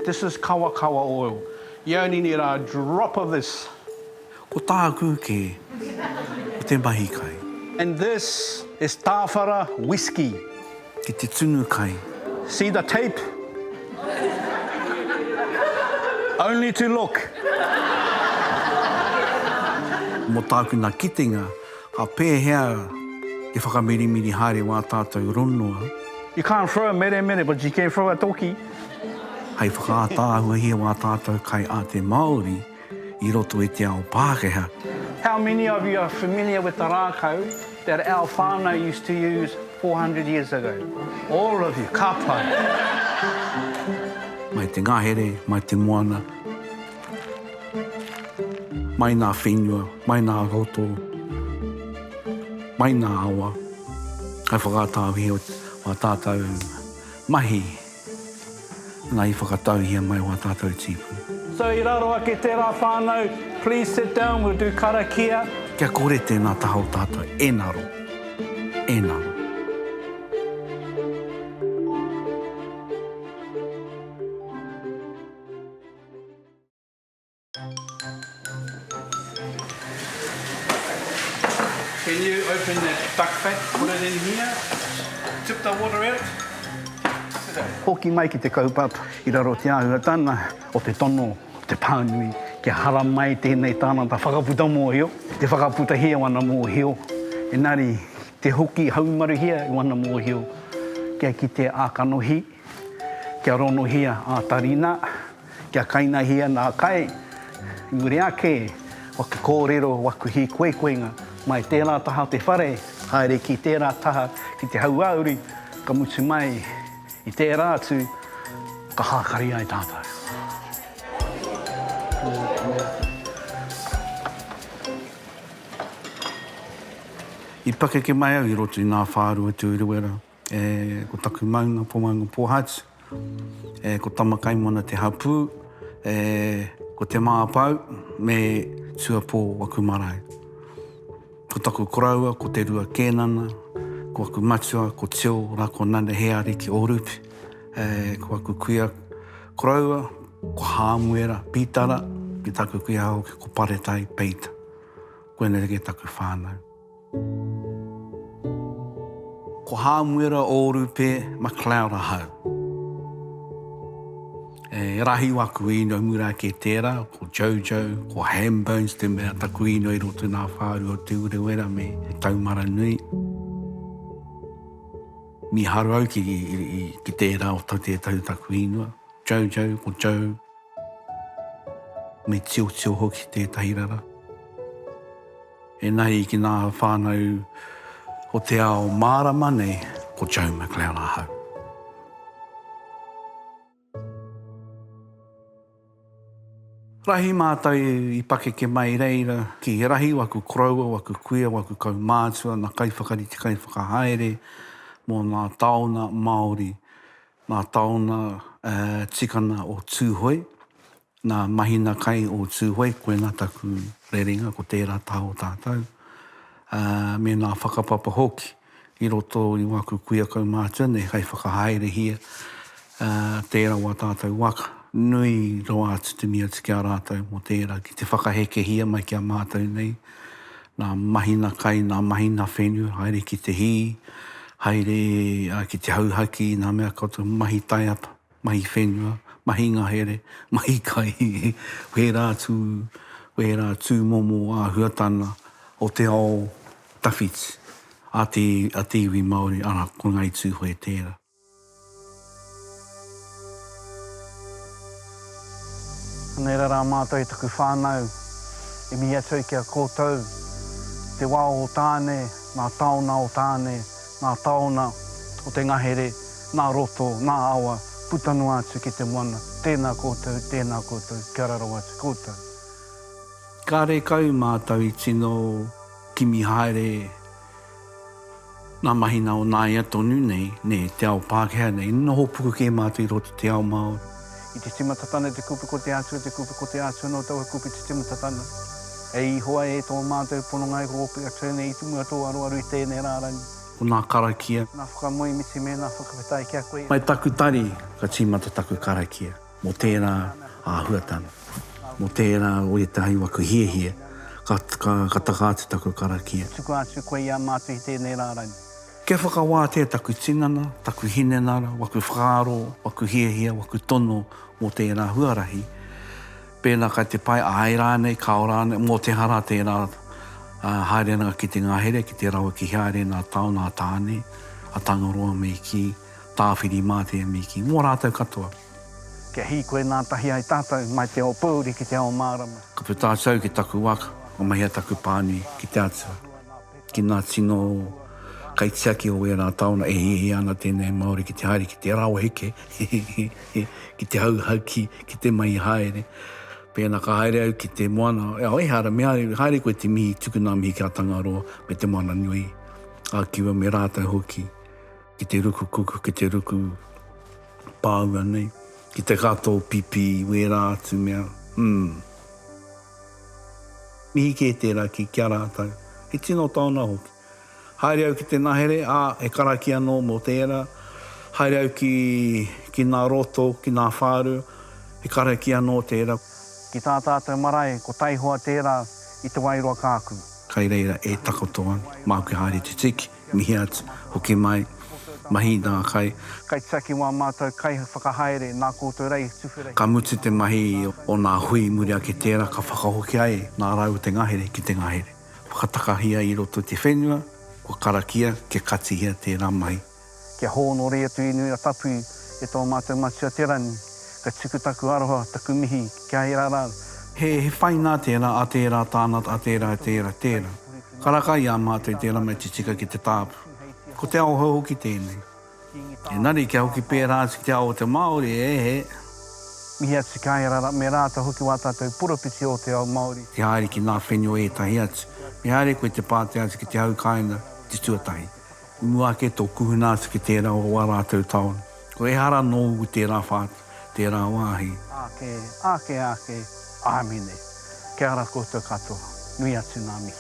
This is kawakawa oil. You only need a drop of this. Ko tāku kē, ko te mahi kai. And this is tāwhara whiskey. Ki te tunu kai. See the tape? Only to look. Mō tāku nā kitenga, Ka pēhea te whakamirimiri haere wā tātou ronua? You can't throw a meremere but you can throw a toki. Hei whakaātaahuahia wā tātou kaiāte Māori i roto i te ao Pākehā. How many of you are familiar with the rākau that our whānau used to use 400 years ago? All of you, ka pai! Mai te ngahere, mai te moana. Mai nā whenua, mai nā roto, mai nā awa, hai whakatāuhia o wā tātau mahi, nā i whakatauhia mai wā tātau tīpū. So i raro ake tērā whānau, please sit down, we'll do karakia. Kia kore tēnā taha o tātau e ngaro, e ngaro. Can you open that duck pack, put it in here, tip the water out? Hoki mai ki te kaupapa i raro te āhuatana o te tono o te pānui kia haramai tēnei tānata whakaputa mōhio, te whakaputahia o ana mōhio, engari te hoki haumaruhia i ana mōhio kia kitea ā-kanohi. Kia ronohia a Tarina, kia kainahia nā kai, i muri ake o te kōrero o aku hīkoikoinga, mai tērā taha o te whare, haere ki tērā taha ki te hauāuru, ka mutu mai i tērā atu, ka hākari ai tātou. I pakeke mai au i roto i nā whārua tūruera, E, ko taku maunga ko Maunga Pōhatu. E, ko Tamakaimona te hapū. E, ko Te Māpau me Tuapō aku marae. Ko taku koroua ko Te Rua Kēnana, ko aku matua ko Teo Rakonane He Ariki Ōrupe. E, ko aku kuia koroua ko Hāmuera Pītara me taku kuia hoki ko Paretai Peita. Koinei taku whānau. Ko Hāmuera Ōrupe McLeod ahau. E rahi waku īnoi mura ake tērā, ko Jojo, ko Ham Bones te mea taku īnoi roto nā Whāru o Te Urewera me Te Taumaranui. Mīharo au ki ki tērā o tau tētahi taku īnoi, Jojo, ko Joe, me Tiotio hoki tētahi rara. Ēnahi ki ngā whānau o te ao mārama nei, ko Joe McLeod ahau. Rahi mātou i pakeke mai reira ki rahi waku koroua, waku kuia, waku kaumātua, na kaiwhakarite, kaiwhakahaere mō ngā taona Māori, ngā taona tikana o Tūhoe, Nā Mahina Kai o Tūhoe koinā taku rerenga ko tērā taha o tātou, ā, me nā whakapapa hoki i roto i wā kukuia kaumātua nei hai whakahaerehia, ā, tērā wā tātou waka. Nui rawa atu te mea atu ki a rātou mō tērā ki te whakahekehia mai ki a mātou nei, nā Mahina Kai, nā Mahina Whenu, haere ki te hī, haere ki te hauhaki i nā mea koutou mahi taiapa. mahi whenua, mahi ngahere, mahi kai, wērā atu, wērā tūmomo āhuatanga o te ao tawhiti a te, a te iwi Māori, arā, ko Ngāi Tūhoe tērā. Anei rā rā mātou i taku whānau, i mihi atu ai ki a koutou, te wā o Tāne, ngā taona o Tāne, ngā taona o te ngahere, ngā roto, ngā awa, puta noa atu ki te moana, tēnā koutou, tēnā koutou, kia ora rawa atu koutou. Kāre kau mātou i tino kimi haere ngā mahi nā o nāia tonu nei, nē, te ao Pākehā nei, noho puku kē mātou i roto te ao Māori. I te timata tana te kupe ko te Atua te kupe ko te Atua no taua kupe te timata tana. E Ihowa e to matou pononga e horopia turn nei i tu mua to aroaro i tenei rarangi. Ko na karakia. Na whakamoemiti me na whakawhetai ki a koe. Mai taku tari ka timata taku karakia mo tera ahuatanga mo tera o etahi wa ka hiahia ka taka atu taku karakia. Tuku atu koe i a matou i tenei rarangi. Kia whakawātea taku tinana, taku hinengara, waku whakaaro, waku hiahia, waku tono mō tērā huarahi, pēnā kai te pai, āe rānei, kāo rānei, mō te hara tērā haerenga ki te ngahere, ki te rawe ki haere nā Tao, nā Tāne, a Tangaroa me kī, Tāwhirimātea me kī, mō rātou katoa. Kia hīkoi ngātahi ai tātou mai te ao pōuri ki te ao mārama. Ka puta atu au ki taku waka, ka mahia taku pānui ki te Atua. Ki ngā tino kaitiaki o ērā taona e hiahia ana tēnei Māori ki te haere ki te rāo heke, ki te hauhaki, ki te mahi haere. Pēnā ka haere au ki te moana, ehara me haere koe te mihi, tuku nā mihi ki a Tangaroa me te moana nui, a Kiwa me rātou hoki, ki te ruku kuku, ki te ruku pāua nei, ki te kato pipi i wērā atu mea, umm. Mihi kē tērā ki ki a rātou. He tino taona hoki. Haere au ki te ngahere, ā, e karakia nō mō tērā. Haere au ki, ki nā roto, ki nā whāru, he karakia nō tērā. Ki tā tātou marae, ko taihoa tērā i Te Wairoa kāku. Kai reira e takoto ana. Māku e haere te tiki. mihi atu, hoki mai, mahi i ngā kai. Kaitiaki mō ā mātou kaiwhakahaere nā koutou rā i tuwhera hira. Ka mutu te mahi o ngā hui i muri ake tērā ka whakahoki ai ngā rau o te ngahere ki te ngahere. Whakatakahia i roto i te whenua, kua karakia kia katihia tērā mahi. Kia hōnore atu i Nuia Tapu e tō mātou Matua Te Rangi, ka tuku taku aroha, taku mihi kia ērā rau. He whai nā tērā, a tērā tāna, a tērā tērā, tērā. Karaka i a mātou i te ramaiti tika ki te tāpu. Ko te aohou hoki tēnei. Engari kia hoki pērā atu ki te ao o te Māori, e he. Mihi atu ki a ia rara, me rātou hoki wā tātou poropiti o te ao Māori. Te haere ki ngā whenua ētahi atu. Me haere koe te pātea atu ki te hau kāinga, ki te tuatahi. I mua ake tō kuhuna atu ki tērā o wā rātou taone. Ko ehara nōu i tērā whā, tērā wāhi. Ake, ake, ake, Āmine. Kia ara koutou katoa. Nui atu ngā mihi.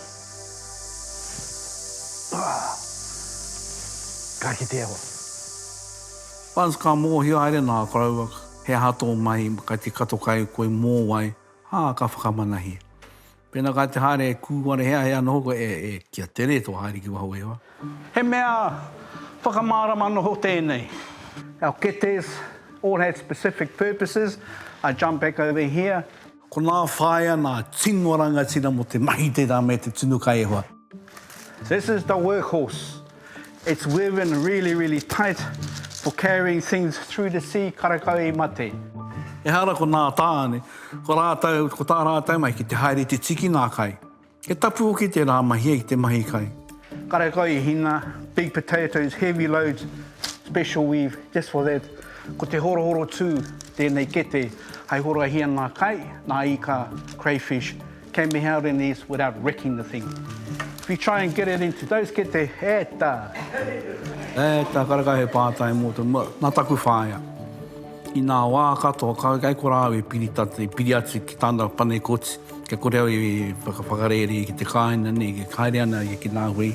Ka kitea hoki. Buzz ka mōhio haere nā koroua he aha tō mahi kai te kato kai koe mōwai, ā, ka whakamanahia. Pēnā kai te haere e kūware hea hea noho koe e e ki a Tere tō haere ki waho o Ewa. He mea whakamārama noho tēnei. Our ketes all had specific purposes, I jump back over here. Konā whāia nā tino rangatira mō te mahi tērā me te tunu kai e hoa. This is the workhorse. It's woven really, really tight for carrying things through the sea, karekau i mate. Ehara ko nā tāne, ko rātou, ko tā rātou mai ki te haere i te tiki ngā kai. He tapu hoki tērā mahia i te mahi kai. Karekau i hinga, big potatoes, heavy loads, special weave just for that. Ko te horohoro tū tēnei kete hai horahia ngā kai, nā ika, crayfish. Came me hau in these without wrecking the thing. If you try and get it into those get the heta. Heta karaka he pātai mō te mō, nā taku whaea. I nā wā katoa ka kei kora au e piri ta, e piri atu ki tāna pane koti, kia kore au e whakawhakarēre ki te kāina nei, e haere ana ia ki nā hui.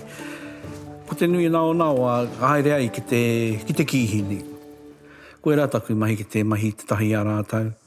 Ko te nui nā o nā wā ka haere ai ki te, ki te kīhi nei. Koirā taku mahi ki te mahi i te tahi i a rātau.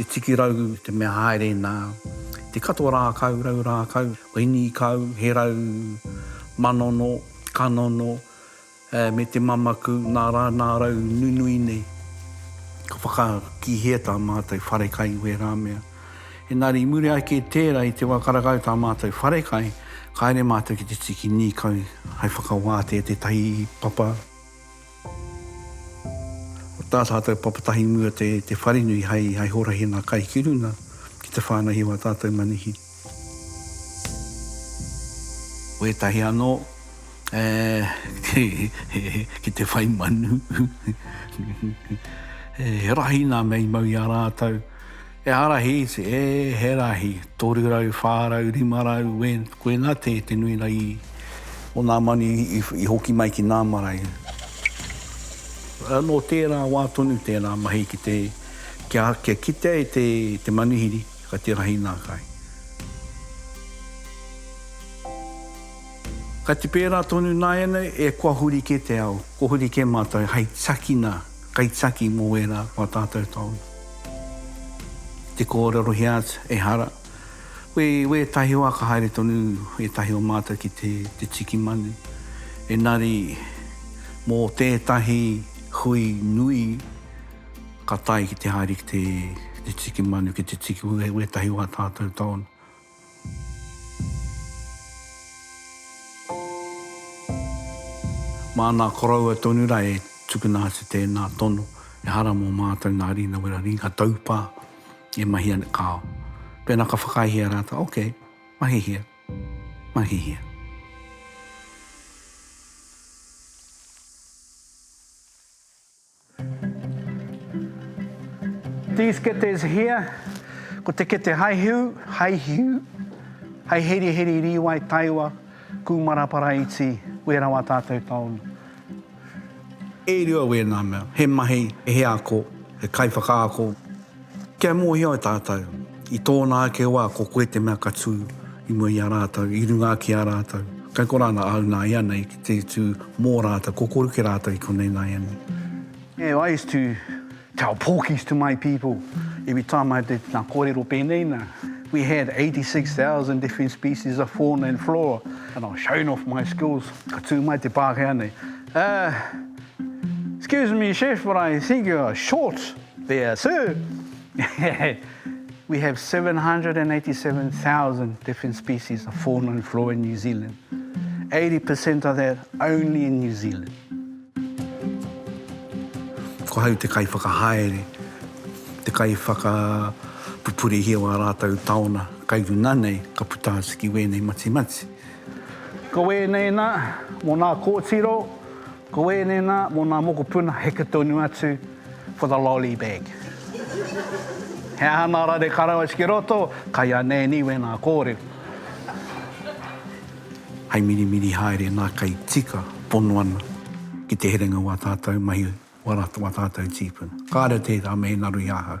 Te tiki rau, te mea haere nā. Te katoa rākau, rau rākau, ko hini kau, he rau, manono, kanono, me te mamaku, nā rā nā rau nunui nei. Ka whakakihia tā mātou wharekai i wērā mea. Engari i muri ake i tērā, i te wā ka rakau tā mātou wharekai, ka haere mātou ki te tiki nīkau hai whakawātea tētahi papa. Ko tā tātou papatahi mua te wharenui hai horahenga kai ki runga ki te whānau i wā tātou manuhiri. Wētahi anō ki te whai manu. He rahi nā mea i mau i a rātou. He harahi te e, he rahi, toru rau, wha rau, rima rau, we, koina te, te nui rā i. O nā manu i, i hoki mai ki nā marae. Nō tērā wā tonu tērā mahi ki te, kia, kia kitea e te, te manuhiri, ka te rahi nā kai. Ka te pērā tonu nāianei, e kua huri kē te ao, kua huri kē mātou hei takina. Kai taki mo wera o a tatou taonga. I te kōrerohia atu, ehara, koe i wētahi wā ka haere tonu ētahi o mātou ki te te tiki manu, engari mō tētahi hui nui ka tae ki te haere ki te te tiki manu, ki te tiki wētahi wā tatou taonga. Māna koroua tonu ra e tukuna atu tēnā tono, ehara mō mātou nā Rina Wera Riga taupā e mahia nei kāo. Pēnā ka whakaahia rātou, okay, mahihia, mahihia. These ketes here, ko te kete haihiu, haihiu, hei heriheri rīwai taewa, kūmara paraiti, wērā wā tātou taunu. E rua wēnā mea, he mahi, he ako, he kaiwhakaako. Kia mōhio ai tātou, i tōna ake wā ko koe te mea ka tū i mua i a rātou, i runga ake i a rātou. Kai korā nā au nāianei ki te tū mō rātou, kokoruke rātou i konei nāianei. I used to tell pōkis to my people every time I did ngā kōrero pēnei nā, we had 86,000 different species of fauna and flora and I was showing off my skills, ka tū mai te Pākehā nei, Uh, excuse me chef but I think you are short. There sir! We have 787,000 different species of fauna and flora in New Zealand. 80 per cent of that only in New Zealand. Ko hau te kaiwhakahaere, te kaiwhakapupurehia o a rātou taona kai runga nei ka puta atu ki wēnei matimati. Ko wēnei nā, mō nā kōtiro, Ko ēnei nā, mō nā mokopuna heke tonu atu for the lolly bag. He aha nā rare karawais ki roto, kai a Nanny wēnā kōrero. Hai mirimiri haere nā kai tika pono ana ki te herenga o ā tātou mahi wā rātou, wā tātou tīpuna. Kāre tērā me he naro i ahau.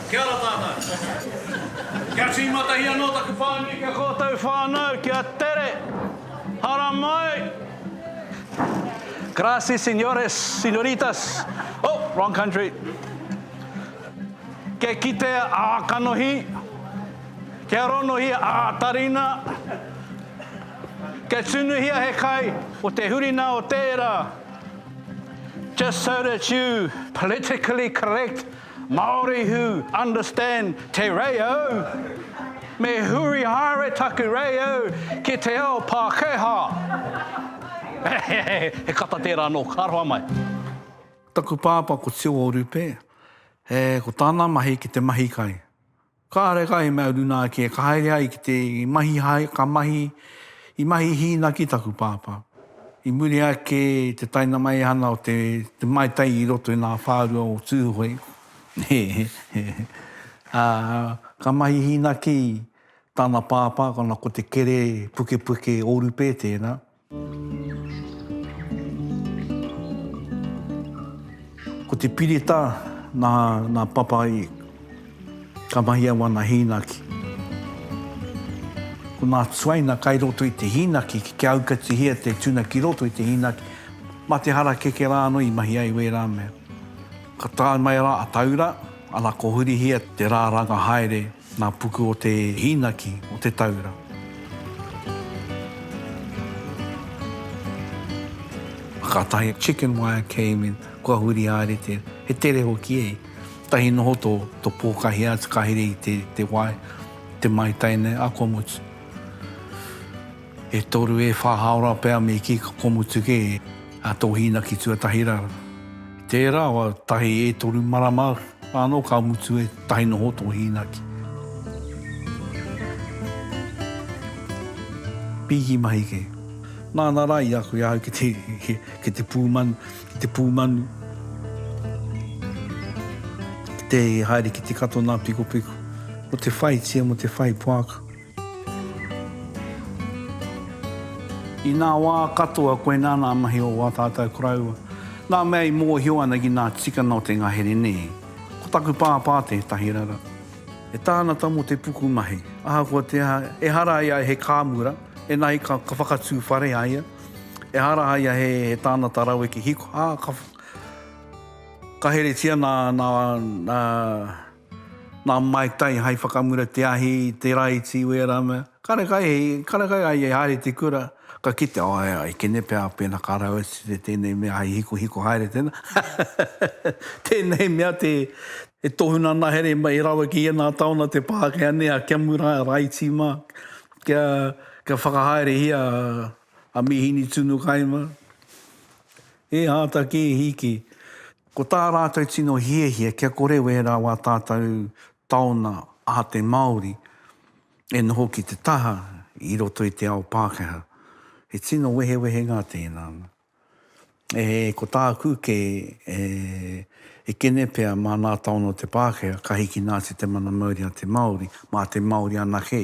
Kia ora tātou. Kia tīmatahi anō taku whānui ki a kōtou whānau, kia tere! Haramai! Gracias señores, señoritas. Oh, wrong country. Kia kitea ā kanohi, kia ronohia ā tarina, kia tunuhia he kai o te hurina o tērā. Just so that you politically correct Māori who understand te reo, me huri haere taku reo ki te ao Pākehā. He kata tērā anō, ka roa mai. Taku pāpā ko Tio Orupe, he ko tāna mahi ki te mahi kai. Kāre ka he mea runa ake ka haere ai ki te mahi hae, ka mahi, i mahi hīna ki taku pāpā. I muri ake i te taina maihana o te Mai Tai i roto i ngā whārua o Tūhoe, he, he, he, ā, ka mahi hīna ki tāna pāpā, ko ana ko Te Kere Pukepuke Ōrupe tērā, Ko te pirita na na papa i ka mahia wana hinaki. Ko na tuaina kai roto i te hinaki ki kia aukatihia te tuna ki roto i te hinaki ma te harakeke ra ano i mahi ai wera mea. Ka tae mai ra a Taura, ana ko hurihia te ra ranga haere. Ngā puku o te hīnaki o te taura. Kātahi chicken wire came in, kua huri haere te, he tere hoki e. Tahi noho to, to pōkahi atu ka here i te, te wai, te maitai nei, ako mutu. E toru e wha haora pea me ki ka komutu ke a to hinaki tuatahi ra. Tera wa tahi e toru marama ano ka mutu e tahi noho to hinaki. Piki mahi ke. Nana ra i aku i ahau ki te ki te pumanu ki te pumanu ki te haere ki te kato na piko piko mo te whaitia mo te whai poaka. I ngā wā katoa koinā ngā mahi o wā tātou koroua, ngā mea i mōhio ana ki ngā tikanga o te ngahere nē. Ko taku pāpā tētahi rara. He tāngata mō te pukumahi, ahakoa te aha, ehara ai ia he kāmura, ēngari ka whakatū whare a ia, ehara a ia he tāngata raweke hiko, ā, ka heretia ngā. Nā Mai Tai hai whakamura te ahi i te rā i Tī Wēra mea, Kare kai, kare kai ai e haere te kura, ka kitea, oh ai, ai kene pea pēnā ka rau atu te tēnei mea hai hikohiko haere tēnā, tēnei mea te, e tohu nā nā here e rawe ki ēnā taona te Pākehā nei a Kia Mura Raiti mā, kia, kia whakahaerehia a Mīhini Tunukaima, he āta kē hiki. Ko tā rātou tino hiahia kia kore wērā wā tātou taona aha te Māori e noho ki te taha i roto i te ao Pākehā. He tino wehewehenga tēnā. E, ko tāku kē, e, e kene pea mānā taona o te Pākehā ka hiki nā te te mana mauri a te Māori, mā te Māori anake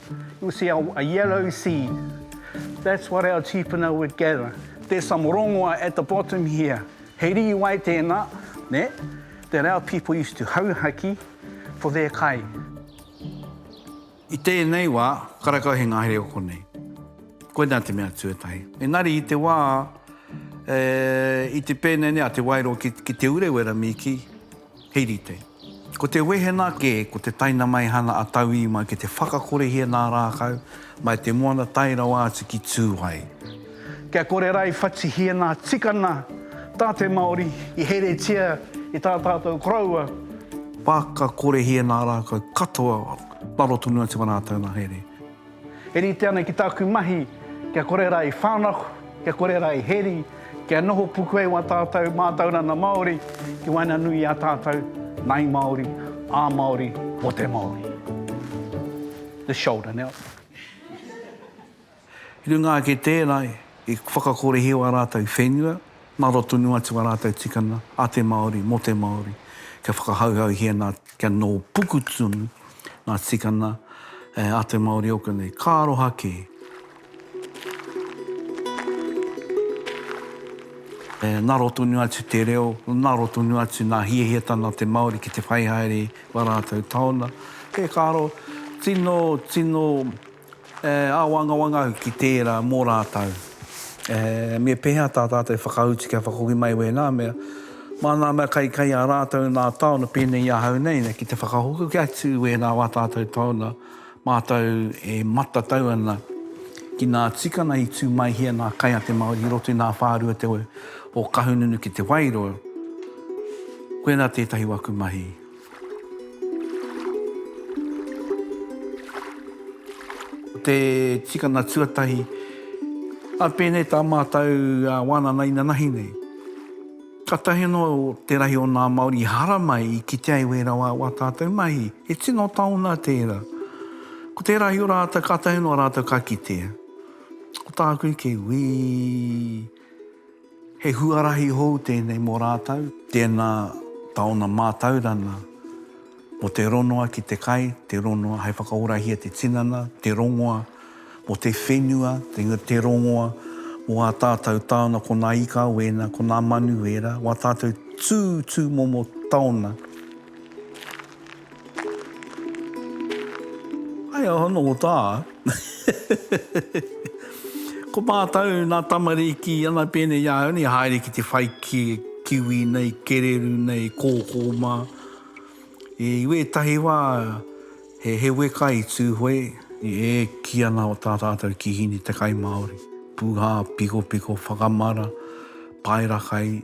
You'll see a a yellow seed. That's what our tīpuna would gather. There's some rongoa at the bottom here. He rīwai tēnā, nē, that our people used to hauhaki for their kai. I tēnei wā, karakau he ngahere o konei. Koinā te mea tuatahi. Engari i te wā, e, i te pēnei nei a Te Wairō ki, ki Te Urewera, Mīki, He rite. Ko te wehena kē, ko te tainamaihana a tauiwi mai ki te whakakorehia nā Rākau, mai te moana tae rawa atu ki Tūai. Kia kore rā i whatihia ngā tikana tā te Māori i heretia i tā tātou koroua. Whakakorehia nā Rākau katoa, raro tonu atu ā rātou ngahere. E rite ana ki tāku mahi kia kore rā i whānako, kia kore rā i heri, kia noho puku ai wā tātou mātauranga Māori ki waenganui i a tātou, ngāi Māori, ā Māori, mō te Māori. The shoulder now. I runga ake i tērā, i whakakorehia wā rātou whenua, ngaro tonu atu wā rātou tikanga, a te Māori, mō te Māori, kia whakahauhauhia nā Kia nō puku tonu ngā tikana a te Māori ōku nei. Ka aroha kē. E ngaro tonu atu te reo, ngaro tonu atu ngā hiahiatanga o te Māori ki te whai haere i a rātou taona. Kē, ka aro, tino, tino. E āwangawanga au ki tērā mō rātou. E, me pēhea tā tātou e whakautu kia whakahoki mai wēnā mea? Mā ngā mea kai kai a rātou nā taona pēnei i ahau nei, ki te whakahoki atu i wēnā wā tātou taona mātou e matatau ana ki ngā tikanga i tū mai hia ngā kai a te Māori i roto i ngā whārua te o Kahungunu ki Te Wairoa. Koinā tētahi o aku mahi. Te tikanga tuatahi, a pēnei tā mātou wānana inanahi nei. Katahi anō te rahi o nā Māori i haramai, i kite ai wē rawa wā tātou mahi. He tino taonga tērā. Ko te rahi o rātou, kātahi anō rātou ka kitea. Ko tāku, ke wī. He huarahi hou tēnei mō rātou. Tēnā taona mātaurana mō te rongoa ki te kai, te rongoa hai whakaorahia te tinana, te rongoa mō te whenua, te rongoa mō ā tātou taona ko nā ika wēna, ko nā manu wēra, wā tātou tū tūmomo taona. Ae aho no ta. Ko matou na tamariki ana pene i ahau nei haere ki te whai ki kiwi nei kereru nei koko ma i wetahi wa he he weka i tu hoi i e ki ana o ta tatou kihini te kai maori puha piko piko whakamara paera kai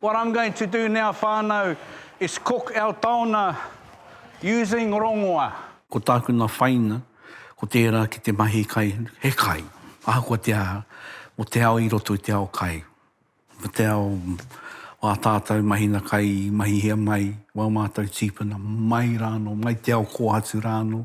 What I'm going to do now whanau is cook our taona using rongoa. Ko tāku nā whaina, ko tērā ki te mahi kai, he kai, ahakoa te aha, mō te ao i roto i te ao kai, mō te ao o ā tātou mahina kai i mahihia mai o ā mātou tīpuna, mai rānō, mai te ao kōhatu rānō.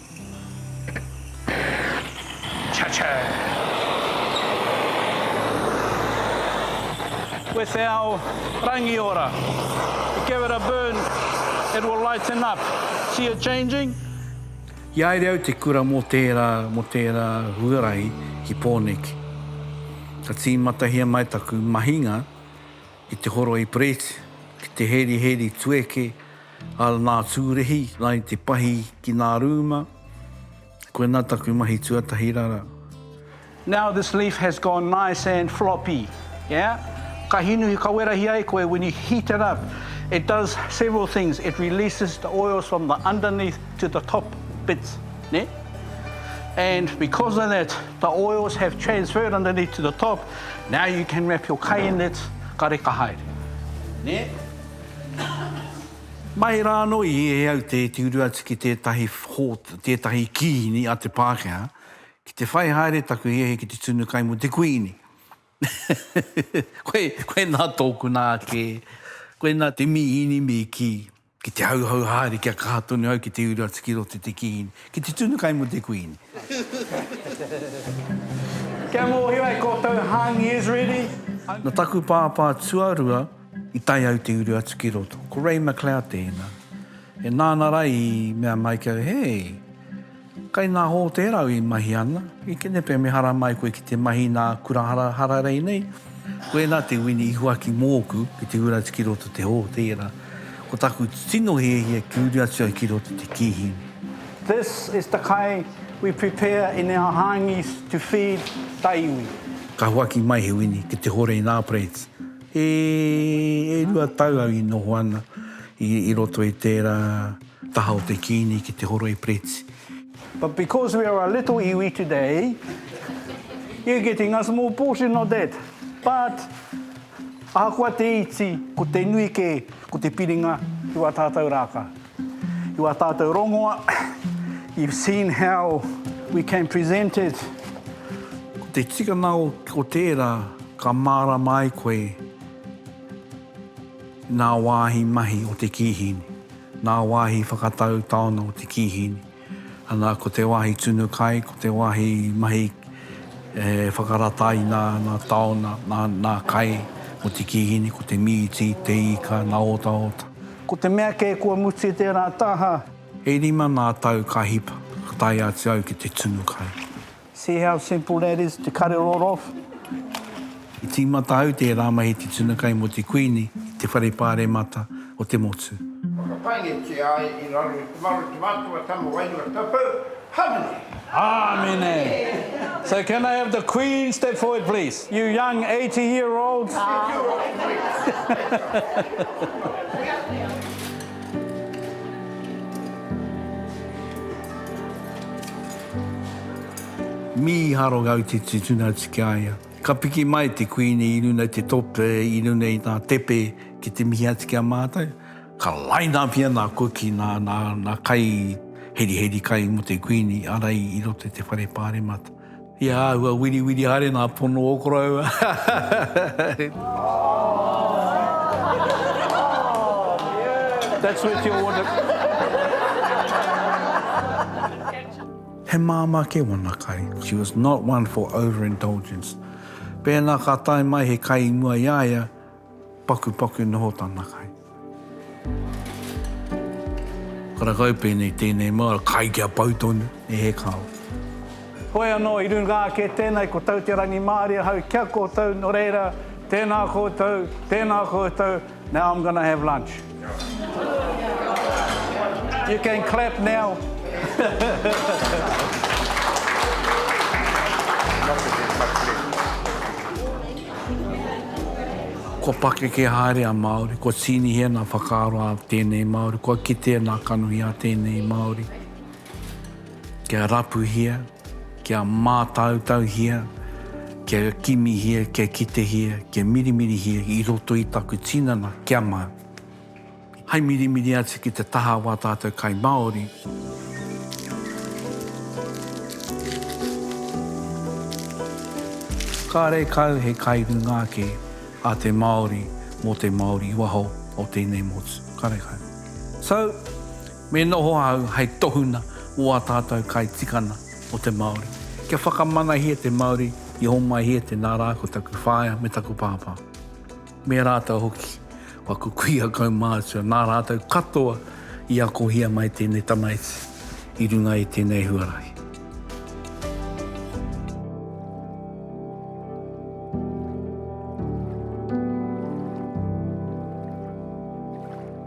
With our Rangiora, give it a burn, it will lighten up, see it changing? I haere au te kura mō tērā, mō tērā huarahi ki Pōneke. Ka tīmatahia mai taku mahinga i te horoi Brett, ki te heriheri tueke a nā Tūrehi, nai te pahi ki nā rūma, koina taku mahi tuatahi rara. Now this leaf has gone nice and floppy, yeah? Ka hinuhi kawerahi ai koe when you heat it up, it does several things, it releases the oils from the underneath to the top bits, nē? And because of that, The oils have transferred underneath to the top, now you can wrap your kai in it, ka reka haere. Nē? Mai rā anō i ē au te tiuru atu ki tētahi hōtā, tētahi kīhini a te Pākehā, ki te whai haere taku hiahia ki te tunu kai mō te Kuīni. Koe, koe nā tōku nā kē, koe nā te mīhini me kī. Ki te hauhau haere kia kaha tonu au ki te uru atu ki roto i te kihini, ki te tunu kai mō te kuini. Kia mōhio ai koutou hāngi Israeli. Nō taku pāpā tuarua i tae au te uru atu ki roto. Ko Ray McLeod tēnā. E nāna Ray i mea mai ki au, He! Kai ngā hōtēra i mahi ana, i kenepe mehara mai koe ki te mahi i nā kura hararei nei, koena te wini i huaki mōku ki te ura atu ki roto te hōtēra. Ko taku tino hiahia ki uri atu ai ki roto te kīhini. This is the kai we prepare in our hāngis to feed ta iwi. Ka huaki mai he wini ki te hore i nā plates. E rua tau au i noho ana i roto i tērā. Taha o te Kiini ki te horoi Preti. But because we are a little iwi today, you're getting a small portion of that. But, ahakoa te iti, ko te nui kē, ko te piringa i wā tātou rākau. I wā tātou rongoa, you've seen how we can present it. Ko te tikanga o tērā ka mārama ai koe. Ngā wāhi mahi o te kīhini, ngā wāhi whakatau taona o te kīhini, ana, ko te wāhi tunu kai, ko te wāhi mahi e whakarata ai ngā taona, ngā kai o te kīhini, ko te mīti, te ika, ngā otaota. Ko te mea kē kua mutu tērā taha. E rima ngā tau ka hipa, ka tae atu au ki te tunu kai. See how simple that is to cut it all off. I tīmata au tērā mahi te tuna kai mō te Kuini i te whare pāremata o te motu. Whakapaingitia ai i raro i te maro te mātua tama wairua tapu. Hamene. Amene. So can I have the Queen step forward please? You young eighty year old. Mīharo Gautiti tuna atu ki a ia. Ka piki mai te Kuini i runga i te tope, i runga i ngā tepe ki te mihi atu ki a mātou. Ka line up ia nā Kuki, nā, nā, nā kai heriheri kai mō te Kuini, arai i roto i te whare pāremata. He āhua wiriwiri haere nā pono o koroua. That's worth your water. He māmā kē wana kai. She was not one for over-indulgence. Pēnā ka tae mai he kai i mua i a ia, pakupaku noho tana kai. Karakau pēnei tēnei mau kai kia pau tonu, e he kao. Hoi anō i runga ake tēnei ko Tau Te Rangimārie hau kia koutou, nō reira, tēnā koutou, tēnā koutou. Now I'm gonna have lunch. You can clap now. Kua pakeke haere a Māori, kua tīnihia ngā whakaaro a tēnei Māori, kua kitea ngā kanohi a tēnei Māori, kia rapuhia. Kia mātautauhia, kia kimihia, kia kitehia, kia mirimirihia i roto i taku tinana kia mau. Hai mirimiri atu ki te taha o ā tātou kai Māori. Kārekau he kai runga ake a te Māori mō te Māori i waho o tēnei motu. Kārekau. So. Me noho ahau hei tohunga o ā tātou kai tikana o te Māori. Kia whakamanahia te Māori i homai e te nā rā ko taku whaea me taku pāpā. Me rātou hoki, kua kukuia kaumātua nā rātou katoa i akohia mai tēnei tamaiti i runga i tēnei huarahi.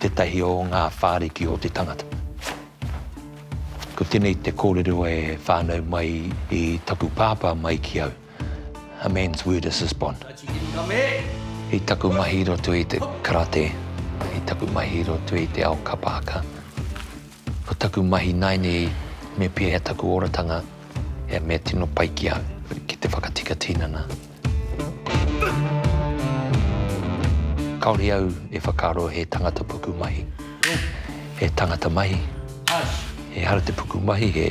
tētahi o ngā whāriki o te tangata. Ko tēnei te kōrero e whānau mai i taku pāpā mai ki au, A man's word is his bond. I taku mahi i roto i te karate, i taku mahi i roto i te ao kapa haka, Ko taku mahi naineī me pēhea taku oratanga, he mea tino pai ki au ki te whakatika tinana. Kaore au e whakaaro he tangata puku mahi, he tangata mahi, ehara te puku mahi he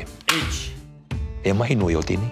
he mahi nui o tēnei.